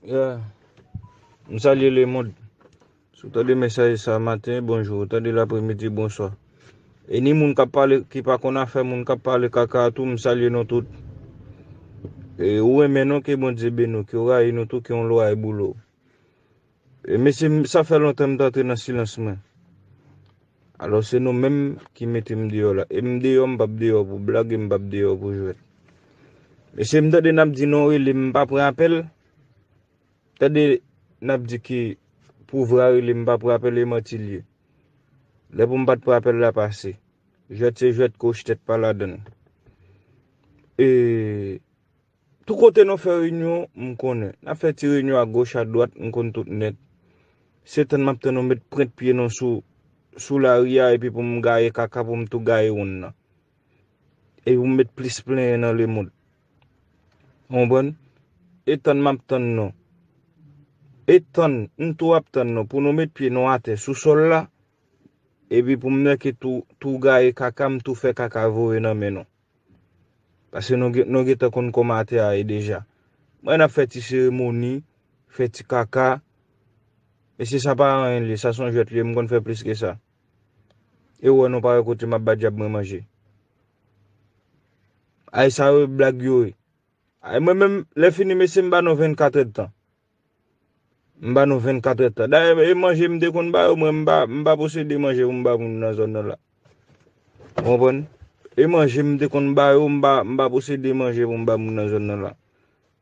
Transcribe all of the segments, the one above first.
Ya, m salye lemond. Si w tande mesaj sa maten, bonjou. Ou tande l apremidi, bonswa. E ni moun kap pale, ki pa konn afè moun kap pale kaka a tou, m salye nou tout. E ou renmen nou, ke Bondye beni w. Ke w rayi nou tou, ke yon lwa e boule w. Mesye sa fè lontan m t antre nan silans mwen alò se nou menm ki mete m deyò la e m deyò m pap deyò pou blag e m pap deyò pou jwèt mesye m tande nap di non rele m pa pran apèl tande nap di ki pouvra rele m pa pran apèl e manti l ye lè pou m pat pran apèl la pase jwèt se jwèt koch tèt pa ladann e. Tout kote nou fè reyinyon, m konnen. N ap fè ti reyinyon agoch adwat, m konn tout nèt. Se tann m ap tann nou met prent pye nou sou lari a epi pou m gaye kaka pou m tou gaye wonn nan. Epi pou m met plis plenyen nan lemond. Ou konprann? E tann m ap tann nou. E tann, m tou ap tann nou pou nou met pye nou atè sou sòl la epi pou m nèke tou gaye kaka m tou fè kaka voye nan men nou. Paske nou gen nou gentan konn kòman tè a ye deja. Mwen ap fè ti seremoni, fè ti kaka. Mesye sa pa anyen liye, sa son jwèt liye, m konn fè plis ke sa. E ou wè nou pa wè kote m ap ba djab mwen manje. Ay sa yo blag yo ye. Ay mwen menm lè fini mesye m ba nou 24 èdtan. M ba nou 24 èd tan. Dayè e manje m te konn ba yo mwen m pa posede manje pou m ba moun nan zòn nan la. Ou konprann? E manje m te konn ba yo m pa posede manje pou m ba moun nan zòn nan la.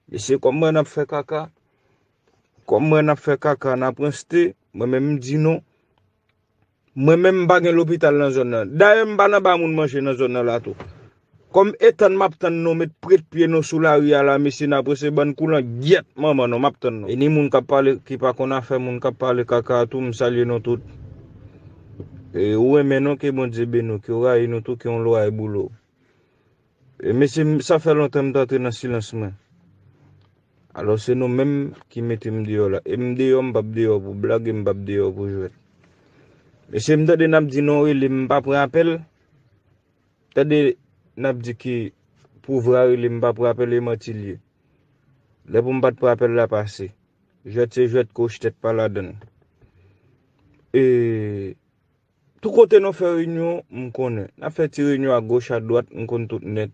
Mesye kòm m wè n ap fè kaka, kòm m wè n ap fè kaka n ap ranste, mwen menm m di nou. Mwen menm m pa gen lopital nan zòn nan. Dayè m pa nan ba moun manje nan zòn nan la tou. Kòm etann m ap tann nou met prèt pye nou sou lari a la mesye nan prese bann koulan gyèt manman nou m ap tann nou. E ni moun k ap pale ki pa konn afè moun k ap pale kaka a tou m salye nou tout. E ou renmen nou ke Bondye beni w ke w rayi nou tou ke yon lwa e boule w. Mesye sa fè lontan m t antre nan silans mwen alò se nou menm ki mete m deyò la e m deyò m pap deyò pou blag e m pap deyò pou jwèt mesye m tande nap di non rele m pa pran apèl tande nap di ki pouvra rele m pa pran apèl e manti l ye lè pou m pat pran apèl la pase jwèt se jwèt koch tèt pa ladann e Tout kote nou fè reyinyon, m konnen. N ap fè ti reyinyon agoch adwat, m konn tout nèt.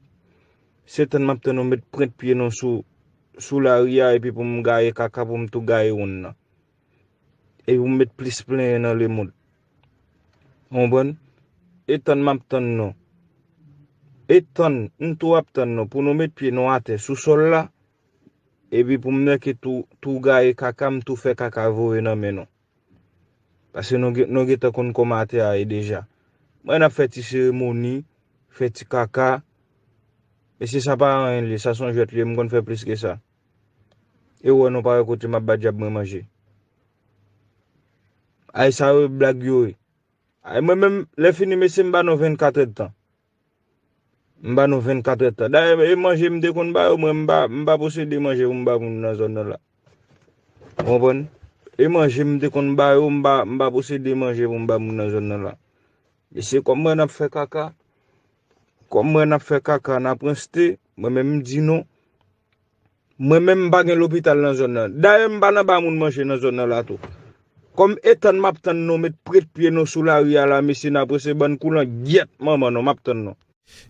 Se tann m ap tann nou met prent pye nou sou lari a epi pou m gaye kaka pou m tou gaye wonn nan. Epi pou m met plis plenyen nan lemond. Ou konprann? E tann m ap tann nou. E tann, m tou ap tann nou pou nou met pye nou atè sou sòl la epi pou m nèke tou gaye kaka m tou fè kaka voye nan men nou. Pase nou gen nou gentan konn koma atè a ye deja. Mwen ap fè ti seremoni, fè ti kaka. Mesye sa pa anyen liye, sa son jwèt liye, m konn fè plis ke sa. E ou wè nou pa wè kote m ap ba dyab mwen manje. Ay sa yo blag yo ye. Ay mwen menm lè fini mesye m ba nou 24 èdtan. M ba nou 24 èd tan. Dayè e manje m te konn ba yo mwen m pa posede manje pou m ba moun nan zòn nan la. Ou konprann? E manje m te konn ba yo m pa posede manje pou m ba moun nan zòn nan la. Mesye kòm m wè n ap fè kaka, kòm m wè n ap fè kaka n ap ranste, mwen menm m di nou. Mwen menm m pa gen lopital nan zòn nan. Dayè m pa nan ba moun manje nan zòn nan la tou. Kòm etann m ap tann nou met prèt pye nou sou lari a la mesye nan prese bann koulan gyèt manman nou m ap tann nou.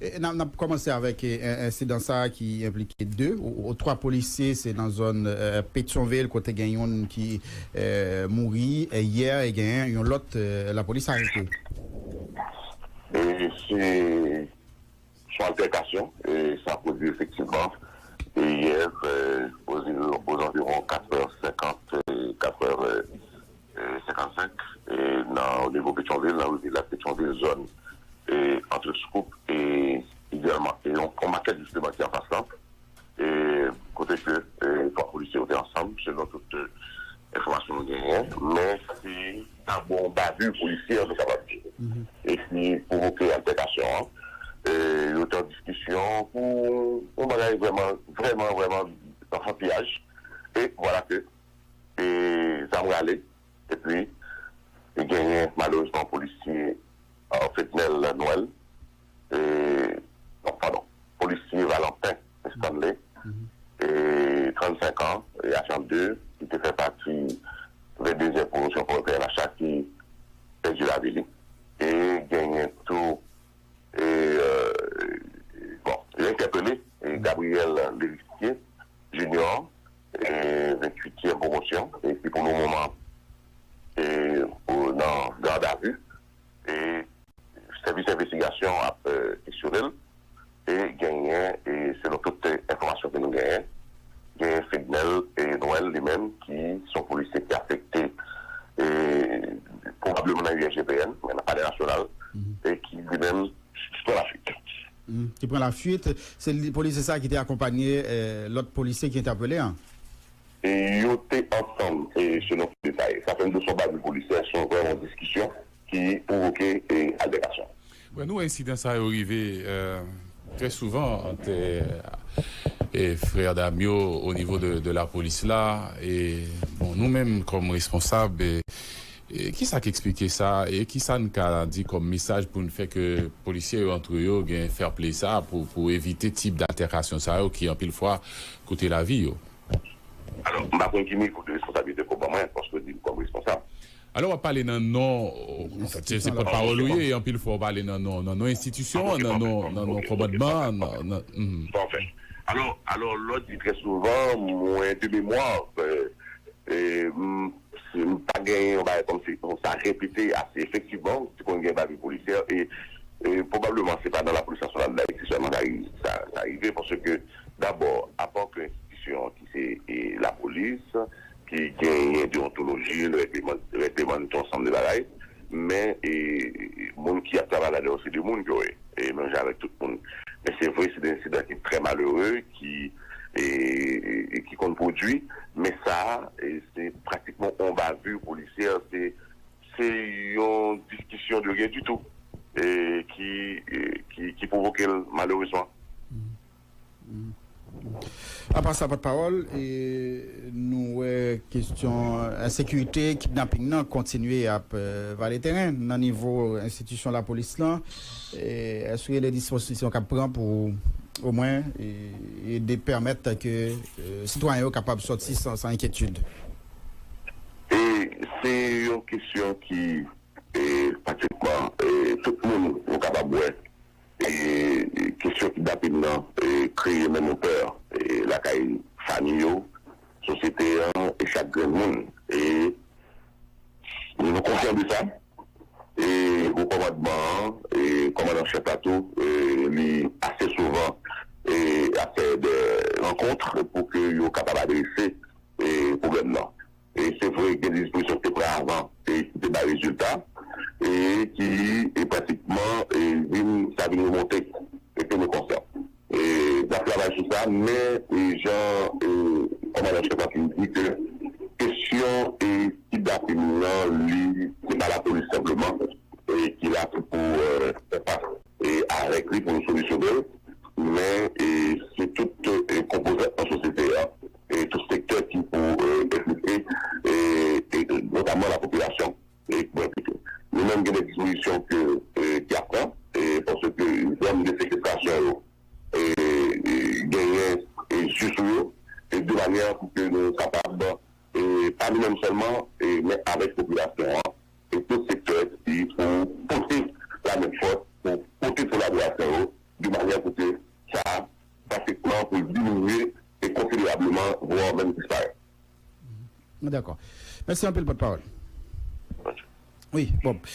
N ap kòmanse avèk ensidan sa a ki enplike 2 ou 3 polisye se nan zòn Petyonvil kote gen youn ki mouri yè e gen yon lòt lapolis arete. Se Sou altèkasyon sa pwodui efektivman yè ozanviwon 4 è 50, 4 è 55 nan onivo Petyonvil, nan rivi lak Petyonvil, zòn antre Scoop e idyalman yon makèt jisteman ki anfas lan kote ke 3 polisye yo te ansanm selon tout enfòmasyon nou genyen men se. Sa bon yon bavure policière nou kapab di e ki pwovoke altèkasyon an. Yo te an diskisyon pou yon bagay vrèman, vrèman, vrèman anfantyaj e vwala ke zam rale epi genyen malerezman polisye Fednel Noël non padon, polisye Valentin Estanley, 35 an, ajan 2, ki te fè pati 22 zyèm pwomosyon forè pnh la ki pèdi lavi li e genyen tou bon yo entèpele Gabriel L'Heritier Junior 28 zyèm pwomosyon ki pou le moman nan gadavi. Sèvis envestigasyon an ap kesyone l e genyen, selon tout enfòmasyon ke nou genyen, genyen Fednel Noël li menm ki se yon polisye ki afekte pwobableman nan USGPN, nan Palè Nasyonal e ki li menm pran lafwit. Ki pran lafwit. Se polisye sa a ki te akonpanye lòt polisye ki entèpele an? Yo te ansanm, selon tout detay. Sa fè m di w se yon bandi polisyè, se vrèman yon diskisyon. ki pwovoke altèkasyon. Nou wè ensidan sa yo rive trè souvan ant frè dam yo o nivo de lapolis la. Bon nou menm kòm responsab, ki sa k esplike sa e ki sa n ka di kòm mesaj pou n fè ke polisye yo antre yo gen fair play sa pou evite tip d'alterkasyon sa yo ki anpil fwa koute lavi yo? Alò, m pa konn ki nivo de responsabilite ke w ban mwen paske w di m kòm responsab. Alò wap pale nan non se pòt pawòl ou ye e anpil fwa ou pale nan non nan non enstitisyon an nan non nan non kòmandman an nan. Pafè. Alò alò lò di trè souvan mwen de memwa e m pa gen yon bagay kòm si pou sa repete ase efektivman ou te konn gen bavure policière e e pwobableman se pa nan lapolis nasyonal dayiti sèlman sa rive sa sa rive paske dabò apa ke enstitisyon ki se e lapolis ki genyen deontoloji, règleman, règleman n tout ansanm de bagay, men e moun ki ap travay ladan yo se de moun yo ye, e menm jan avèk tout moun. Men se vre se de ensidan ki trè malere ki e ki konn pwodui, men sa a e se pratikman on bavure policière, se se yon diskisyon de ryen ditou e ki e ki pwovoke l malerezman. Apa sa pòtpawòl, nou wè kestyon ensekirite, kidnaping nan kontinye ap vale teren nan nivo enstitisyon lapolis lan. Èske w gen de dispozisyon k ap pran pou omwen ede pèmèt ke sitwayen yo kapab sòti san enkyetid? Se yon kestyon ki pratikman tout moun nou kapab wè. Kesyon kidnapin nan kreye menm yon pè lakay fanmi yo, sosyete an e chak grenn moun. E nou konsyan de sa. E Wo Kòmandman an, Kòmandan an Chèf la tou, li ase souvan ap fè dè rankontr pou ke yo kapab adrese pwoblèm nan. E se vre gen dispozisyon ki te pran avan e ki te bay rezilta e ki pratikman vin sa vin remonte e ke nou konsyan e n ap travay sou sa men e jan e kòmandan an chèf la fin di ke kesyon e kidnapin nan li se pa lapolis senpleman e ki la pou pou fè fas e avèk li pou nou solisyone l men e se tout e konpozant nan sosyete a. Tout sektè ki pou enplike, notamman lapopilasyon ekipman pito. Nou menm gen de dispozisyon ke ki ap pran, paske zòn de sekestasyon yo genyen zye sou yo, de manyè pou ke nou kapab, pa nou menm sèlman, men avèk popilasyon an, e tout sektè ki pou pote la men fòs, pou pote kolaborasyon yo, de manyè pou ke sa drastikman pou l diminye e konsiderableman vwa menm disparèt. Mwen dakò. Mèsi anpil pòtpawòl. Bonjou. Wi, Bob.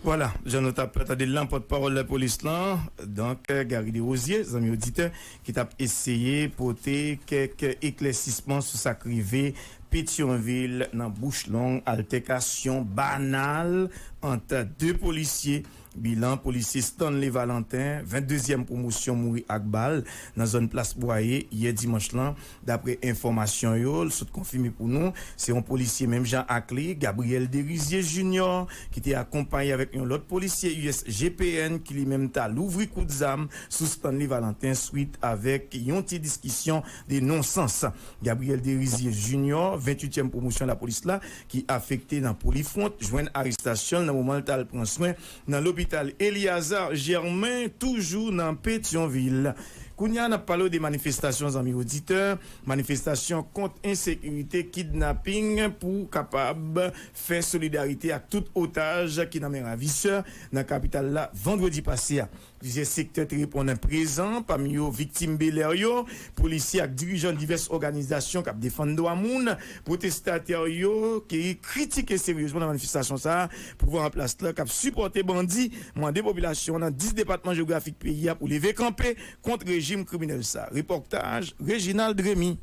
Vwala, jan nou t ap tande l lan, pòtpawòl lapolis lan, donk Garry Desrosiers, zanmi oditè, ki t ap eseye pote kèk eklèsisman sou sa k rive Petyonvil nan bouch long altèkasyon banal ant 2 polisye Bilan polisye Stanley Valentin, 22 zièm pwomosyon mouri ak bal nan zòn plas Bwaye yè dimanch lan. Daprè enfòmasyon yo l sot konfime pou nou, se yon polisye menm jan ak li, Gabriel Derizier Junior, ki te akonpaye avèk yon lòt polisye USGPN ki li menm ta louvri kout zam sou Stanley Valentin swit avèk yon ti diskisyon de non sans. Gabriel Derizier Junior, 28 ème pwomosyon lapolis la, ki afekte nan Polifront, jwenn arestasyon l nan moman l t al pran swen nan lopital Eliazar Germain, toujou nan Petyonvil. Kounye a n ap pale w de manifestasyon zanmi oditè, manifestasyon kont ensekirite, kidnaping pou kapab fè solidarite ak tout otaj ki nan men ravisè nan kapital la vandredi pase a. Plizyè sektè te reponn prezan, pami yo viktim Bel'Air yo, polisye ak dirijan divès òganizasyon k ap defann dwa moun. Pwotestatè yo te kritike seryezman nan manifestasyon sa a pouvwa an plas la k ap sipòte bandi, mande popilasyon an nan 10 depatman jewografik peyi a pou leve kanpe kont rejim kriminèl sa a. Repòtaj Reginald Remy.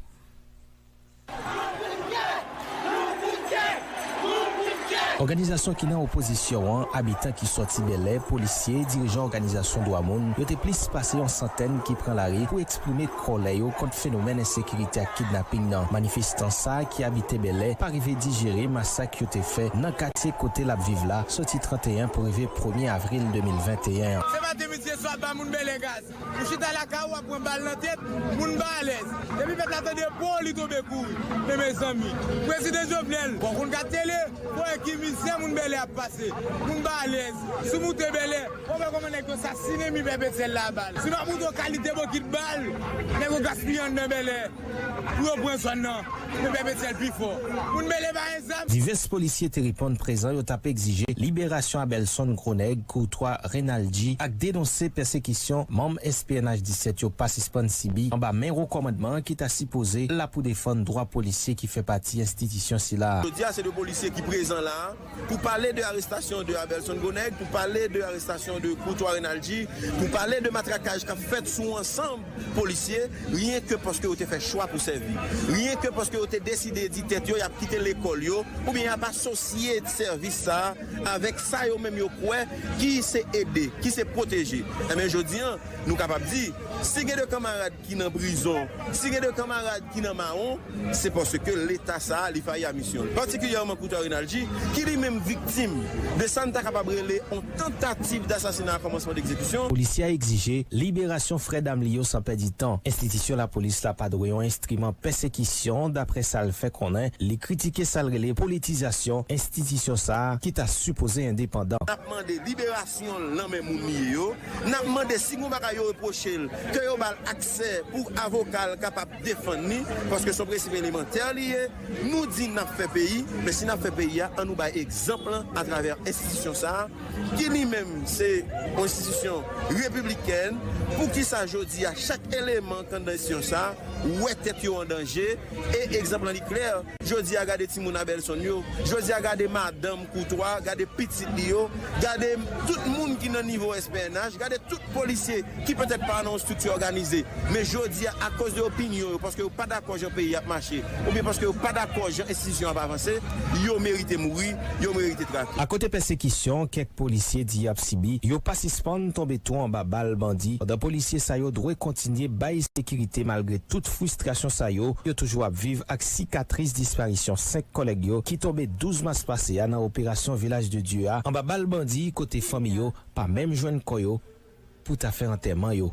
Òganizasyon ki nan opozisyon an, abitan ki sòti Bèlè, polisye, dirijan òganizasyon dwa moun, yo te plis pase yon santèn ki pran lari pou eksprime kòlè yo kont fenomèn ensekirite ak kidnaping nan. Manifestan sa ki abite Bèlè pa rive dijere masak yo te fè nan katye kote l ap viv la sòti 31 pou rive premye avril 2021 an. Ou chita lakay ou wap pran bal nan tèt, moun pa alèz. Depi pèp la tande boo li tonbe kouri. Men mezanmi. Prezidan Jovenel. Bon konn gad tele pou wè ki mizè moun Bèlè ap pase. Moun pa alèz. Si w moute Bèlè, wap wè kòman nèg yo sasinen mi pèp Etzel la a bal. Si w pa moute yon kalite bokit bal, nèg yo gaspiye anndan Bèlè. Pou yo pran zòn nan pou pè Petyèl pi fò. Moun mele ba en zam. Divès polisye te reponn prezan yo t ap egzije liberasyon Abelson Gronèg, Courtois Renaldy ak denonse pèsekisyon manm SPNH 17 yo pa sispann sibi anba men wo kòmandman an ki ta sipoze la pou defann dwa polisye ki fè pati enstitisyon sila a. Jodi a se 2 polisye ki prezan la a. Pou pale de arestasyon de Abelson Goneg, pou pale de arestasyon de Courtois Renaldy, pou pale de matrakaj k ap fèt sou yon ansanm polisye, ryen ke paske yo te fè chwa pou sèvi, ryen ke paske yo te deside di tèt yo y ap kite lekòl yo oubyen y ap asosye sèvis sa a avèk sa yo menm yo kwè ki se ede, ki se pwoteje. Enben, jodi an, nou kapab di, si gen de kanmarad. ki nan prizon, si gen de kanmarad ki nan mawon, se paske Leta sa a li fayi a misyon l, patikilyèman Coutard Rinaldi, ki li menm viktim de sa n ta kapab rele yon tantativ dasasina a kòmansman d'ekzekisyon. Polisye a egzije liberasyon frè dam li yo san pèdi tan. Enstitisyon lapolis la pa dwe yon enstriman pèsekisyon, daprè sa l fè konnen. Li kritike sa l rele politizasyon enstitisyon sa a ki ta sipoze endepandan. N ap mande liberasyon. Si yon lanmè moun li ye yo, n ap mande si gon bagay yo repwoche l, ke yo ba l aksè pou avoka l kapab defann li, paske se yon prensip elemantè li ye. Nou di n ap fè peyi, men si n ap fè peyi a, an nou bay egzanp lan atravè enstitisyon sa a, ki li menm se yon enstitisyon repiblikèn. Poukisa jodi a chak eleman k anndan enstitisyon sa a wè tèt yo an danje? E egzanp lan li klè. Jodi a gade timoun Abelson yo, jodi a gade madanm Koutwa, gade pitit li yo, gade tout moun ki nan nivo SPNH, gade tout polisye ki petèt pa nan yon strikti òganize, men jodi a akoz de opinyon yo, paske yo pa dakò jan peyi ap mache, oubyen paske yo pa dakò jan enstitisyon ap avanse, yo merite mouri, yo merite trake. Akote pèsekisyon kèk polisye di y ap sibi, yo pa sispann tonbe tou anba bal bandi, pandan polisye sa yo dwe kontinye bay sekirite malgre tout fristrasyon sa yo, yo toujou ap viv. ak sikatris disparisyon 5 kòlèg yo ki tonbe 12 mas pase a nan operasyon Vilaj de Dye a anba bal bandi kote fanmi yo pa menm jwenn kò yo pou ta fè antèman yo.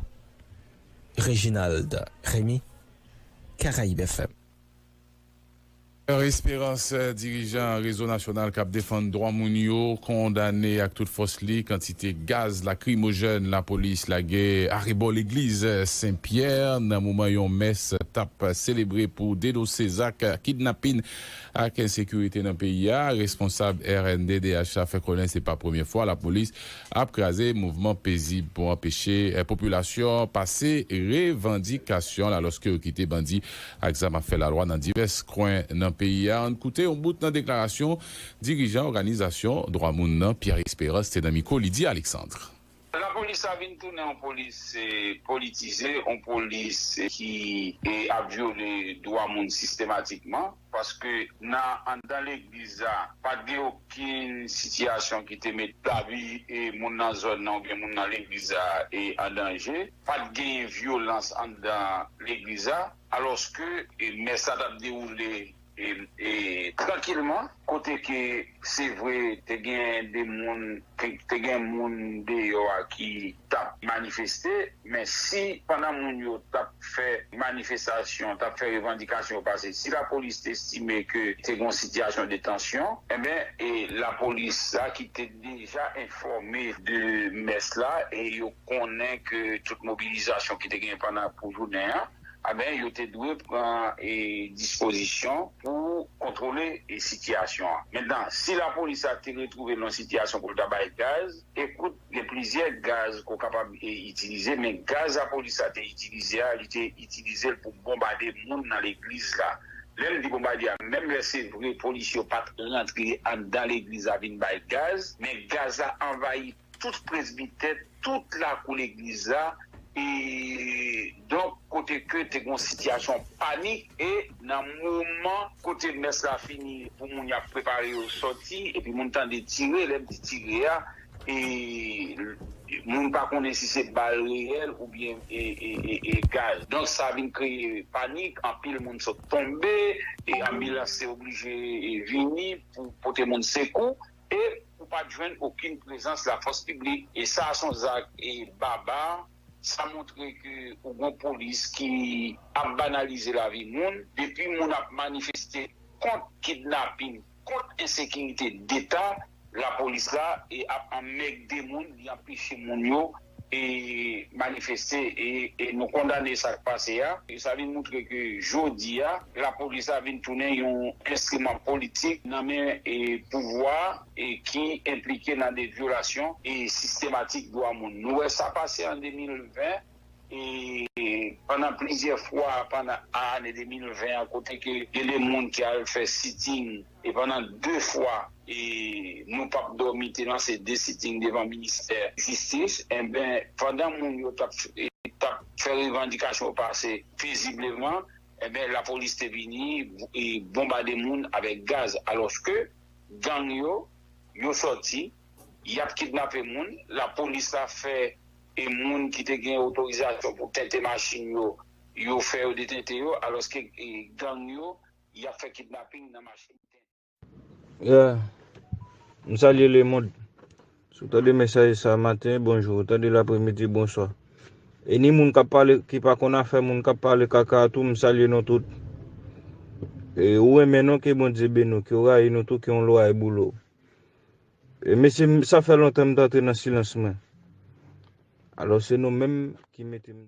Reginald Remy, Caraibes-FM. Pierre Esperance, dirijan Rezo Nasyonal k ap defann dwa moun yo, kondane ak tout fòs li kantite. Te gaz lakrimojèn lapolis lage arebò legliz Sen Pyè nan moman yon mès tap selebre pou denonse zak kidnapin ak ensekirite nan peyi a. Responsab rnddh la fè konnen se pa premye fwa lapolis ap kraze mouvman pezib pou anpeche popilasyon an pase revandikasyon l alòske yo kite bandi ak zam ap fè lalwa nan divès kwen nan peyi a. Ann koute yon bout nan deklarasyon. Dirijan òganizasyon dwa moun nan, Pierre Esperance te nan mikwo Lydie Alexandre. Lapolis sa vin tounen yon polis politize, yon polis ki ap vyole dwa moun sistematikman, paske nan anndan legliz la pa t gen okenn sitiyasyon ki te met lavi moun nan zòn nan oubyen moun nan legliz la an danje, pa t genyen vyolans anndan legliz la alòske mès la t ap dewoule. trankilman kote ke se vre te gen de moun te gen moun deyò a ki tap manifeste men si pandan moun yo tap fè manifestasyon tap fè revandikasyon yo pase si lapolis te estime ke te gen yon sitiyasyon de tansyon enben lapolis la ki te deja enfòme de mès la e yo konnen ke tout mobilizasyon ki te gen pandan pou jounen an. anben yo te dwe pran dispozisyon pou kontwole sitiyasyon an. Mentnan, si lapolis la te retwouve l nan sitiyasyon pou l ta bay gaz, ekout, gen plizyè gaz ke w kapab itilize, men gaz lapolis la te itilize a, li te itilize l pou bonbade moun nan legliz la. Lè m di bonbade a, menm lè se vre polis yo pa t rantre anndan legliz la vin bay gaz, men gaz la anvayi. tout presbitè, tout lakou legliz la, e donk kote ke te gen yon sitiyasyon panik, e nan moman kote mès la fini pou moun y ap prepare yo sòti, epi moun tande tire, lè m di tire a, e moun pa konnen si se bal reyèl oubyen e gaz, donk sa vin kreye panik, anpil moun sot tonbe, e anbilans te oblije vini pou pote moun sekou. E ou pat jwenn okin prezans la fòs piblik e sa son zak e babar sa montre ke ou gon polis ki ap banalize lavi moun depi moun ap manifeste kont kidnapin kont ensekirite deta lapolis la e ap anmègde moun li anpeche moun yo e manifeste e nou kondane sa k pase a, sa vin moutre ke jodi a lapolis la vin tounen yon enstriman politik nan men pouvwa a e ki enplike nan de vyolasyon e sistematik dwa moun. Nou wè sa pase an 2020 e pandan plizyè fwa pandan ane 2020 an kote ke gen de moun ki al fè sitting, E pandan 2 fwa e nou pap dòmi te lanse 2 sitting devan ministè jistis enben pandan moun yo tap tap fè revandikasyon yo pase pezibleman enben lapolis te vini e bonbade moun avèk gaz alòske gang yo yo sòti yap kidnape moun lapolis la fè e moun ki te gen otorizasyon pou tente machin yo yo fè yo detente yo alòske gang yo. y ap fè kidnaping nan mache miten. Yeah M salye le monde Si w tande mesaj sa maten bonjou Ou tande l apremidi bonswa E ni moun k ap pale ki pa konn afè moun k ap pale kaka a tou m salye nou tout E ou renmen nou ke Bondye beni w Ke w rayi nou tou ke yon lwaye boule w E mesye sa fè lontan m t antre nan silans mwen Alò se nou menm ki mete m.